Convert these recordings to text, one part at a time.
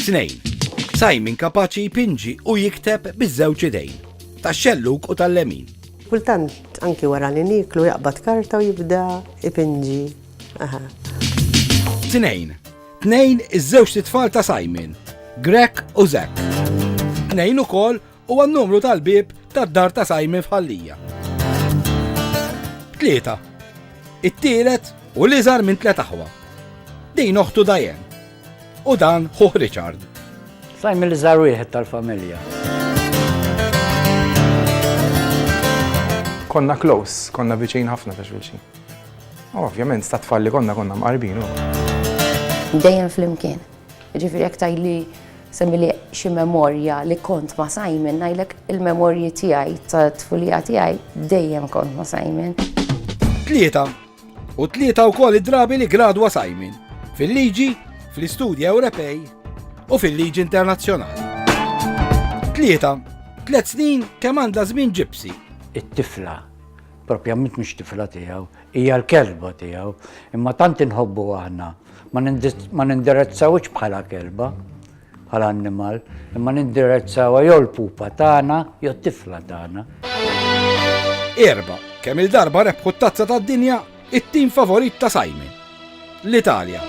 Tnejn. Simon kapaċi jpinġi u jikteb biż-żewġ idejn, tax-xellug u tal-lemin. Kultant anki wara li niklu jaqbad karta u jibda ipinġi. Aha. Tnejn. Tnejn iż-żewġ titfal ta' Simon, Grek u Zek. Tnejn ukoll Huwa n-numru tal-bieb tad-dar ta' Simon f'Ħallija. Tlieta. It-tielet u l-iżgħar minn tliet aħwa. Din oħtu Diane. U dan ħuh Richard. Simon l-iżgħar wieħed tal-familja. Konna close, konna viċin ħafna ta' xulxin. Ovvjament, sta' tfalli konna konna mqarbin. Dejjem flimkien. Jiġifieri jekk tgħidli semmili xi memorja li kont ma' Simon, ngħidlek il-memorji tiegħi ta' tfulija tiegħi dejjem kont ma' Simon. Tlieta. U tlieta wkoll id-drabi li gradwa Simon fil-liġi, fl-istudji Ewropej u fil-liġi internazzjonali. Tlieta. Tliet snin kemm għandha żmien ġipsi. It-tifla propjament mhux tifla tiegħu, hija l-kelba tiegħu, imma tant inħobbu aħna. Ma nindirizzawhiex bħala kelba, bħala annimal, imma nindirizzawha jew l-pupa tagħna jew t-tifla tagħna. Erba, kemm il-darba rebħu t-tazza tad-dinja it-tim favorit ta' Simon, l-Italja.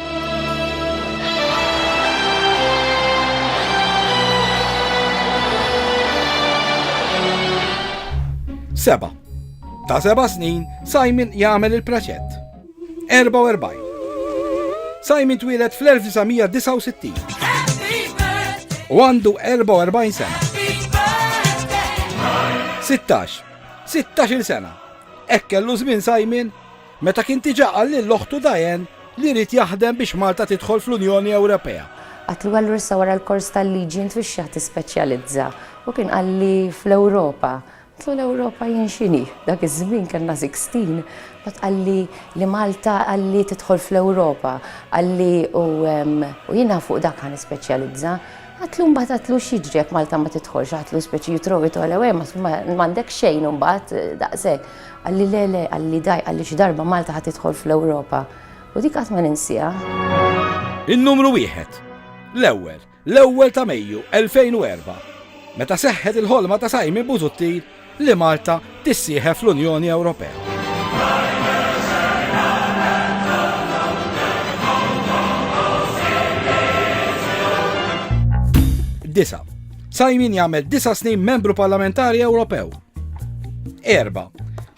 Seba. Ta' seba snin, Simon jagħmel il-praċett. 44. Simon twieled fl-1969 u għandu 44 sena. 16. 16 sena. Ekkellu żmien Simon meta kien tiġa għal l-oħtu Dajen li rrit jaħdem biex Malta tidħol fl-Unjoni Ewropea. Għat li għallu rissa wara l-kors tal-liġi int fix-xaħ tispeċjalizza u kien għalli fl-Ewropa Tul l-Ewropa jien x'inhi? Dak iż-żmien kellna Sixteen, mbagħad qalli li Malta qalli tidħol fl-Ewropa, qalli u u jiena fuq dak ħa nispeċjalizza. Għadtlu mbagħad għadtlu x'jiġri jekk Malta ma tidħolx, għadtlu speċi you throw it all away ma ma m'għandekx xejn imbagħad daqshekk. Qalli le le qalli daj qalli xi darba Malta ħa tidħol fl-Ewropa. U dik qatt ma ninsiha. In-numru wieħed. L-ewwel, L-ewwel ta' Mejju 2004, meta seħħet il-ħolma ta' Simon Busuttil li Malta tissieħeb fl-Unjoni Ewropea. Disa. Simon jagħmel disa snin membru parlamentari Ewropew. Erba.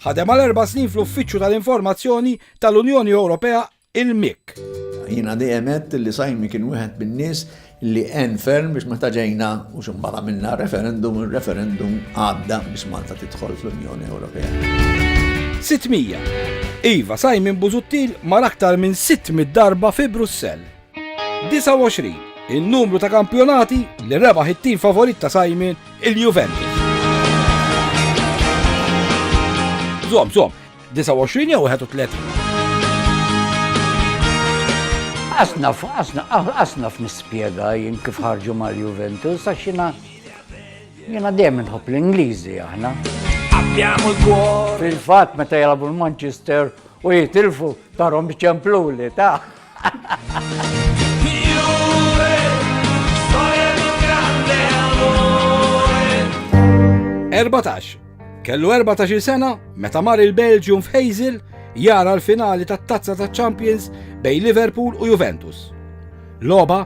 Ħadem għal erba' snin fl-Uffiċċju tal-Informazzjoni tal-Unjoni Ewropea Il-Mick. Jiena dejjem għedt li Simon kien wieħed min-nies li għen ferm biex meta ġejna u xi mbagħad għamilna referendum, ir-referendum għadda biex Malta tidħol fl-Unjoni Ewropea. 600. Iva, Simon Busuttil mar aktar minn 600 darba fi Brussell. 29. Il-numru ta' kampjonati li rebaħ it-tim favorit ta' Simon il-Juventus. Zom, zom, 29 jew 31. Asna, asna, asna f'nispjega jien kif ħarġu mal Juventus, għax jina jina dejjem nħobb l-Ingliżi aħna. Abbiamo l-kwor. Fil-fatt meta jalabu l-Manchester u jitilfu tarhom biċemplu li ta' Erbatax. Kellu 14 sena meta mar il-Belġium f'Hazel jara l-finali tat-Tazza taċ-Champions bejn Liverpool u Juventus. Loba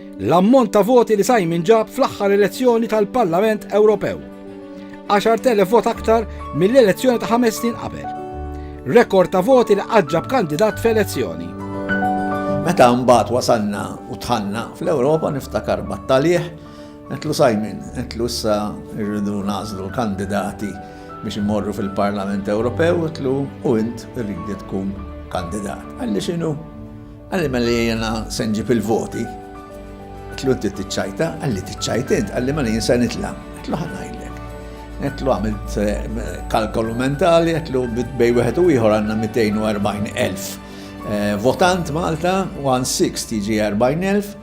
L-ammont ta' voti li Simon ġab fl-aħħar elezzjoni tal-Parlament Ewropew. 10,000 vot aktar mill-elezzjoni ta' ħames snin qabel. Rekord ta' voti li qatt ġab kandidat f'elezzjoni. Meta mbagħad wasalna u tħanna fl-Ewropa niftakar battalih, għetlu Simon, għetlu issa rridu nażlu kandidati biex imorru fil-Parlament Ewropew, għetlu u int rridi tkun kandidat. Għalli xinu? Qalli mela jiena se nġib il-voti. Għetlu inti tiċċajta, għalli tiċċajt int, għalli mela jien se nitla. Għetlu ħanajlek. Għetlu għamilt eh, kalkolu mentali, għetlu bej wieħed u ieħor għandna 240,000 eh, votant Malta, 160 ġi 40,000,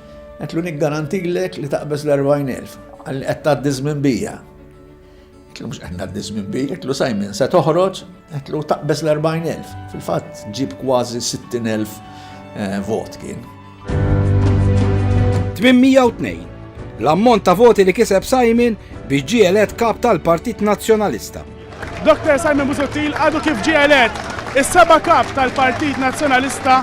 għetlu niggarantilek li taqbeż l-40,000. Għalli qed tgħaddi żmien bija. Għetlu mux għanna d dizmin bi, għetlu Simon se toħroġ, għetlu taqbez l-40.000. Fil-fat ġib kważi 60.000 eh, vot kien. 802. L-ammont ta' voti li kiseb Simon biex ġielet kap tal-Partit Nazzjonalista. Dr. Simon Busuttil għadu kif ġielet is-seba kap tal-Partit Nazzjonalista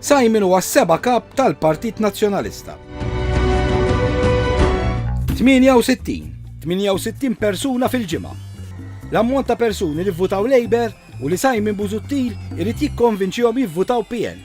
Simon huwa s-seba' Kap tal-Partit Nazzjonalista. 68. 68 persuna fil-ġimgħa. L-ammont ta' persuni li vvutaw Labour u li Simon Busuttil irid jikkonvinċihom jivvutaw PN.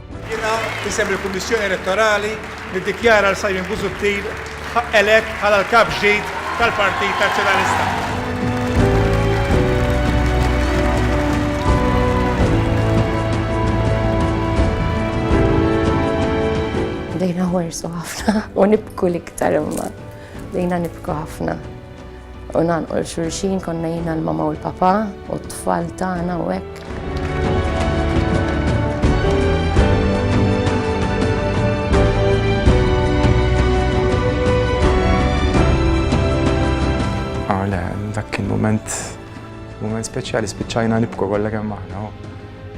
Jiena, f'isem il-Kummissjoni Elettorali, niddikjara 'l Simon Busuttil elett bħala l-Kap ġdid tal-Partit Nazzjonalista. Bdejna nħarsu ħafna u nibku l-iktar imma. Bdejna nibku ħafna. U nagħlqu l xulxin konna jiena l-mama u l-papa u t-tfal tagħna u hekk. moment, moment speċjali, spiċċajna nibku kollha kemm aħna.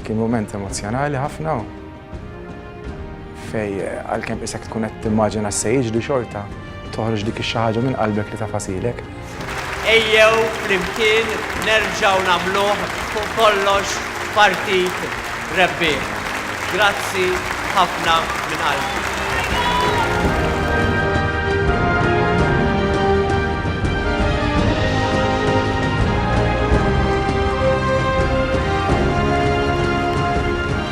Kien moment emozjonali ħafna. Fej għalkemm isek tkun qed timmaġina se jiġri xorta, toħroġ dik ix-xi ħaġa minn qalbek li tafasilek. Ejjew flimkien nerġgħu nagħmluh fuq kollox partit rebbieħ. Grazzi ħafna minn qalbi.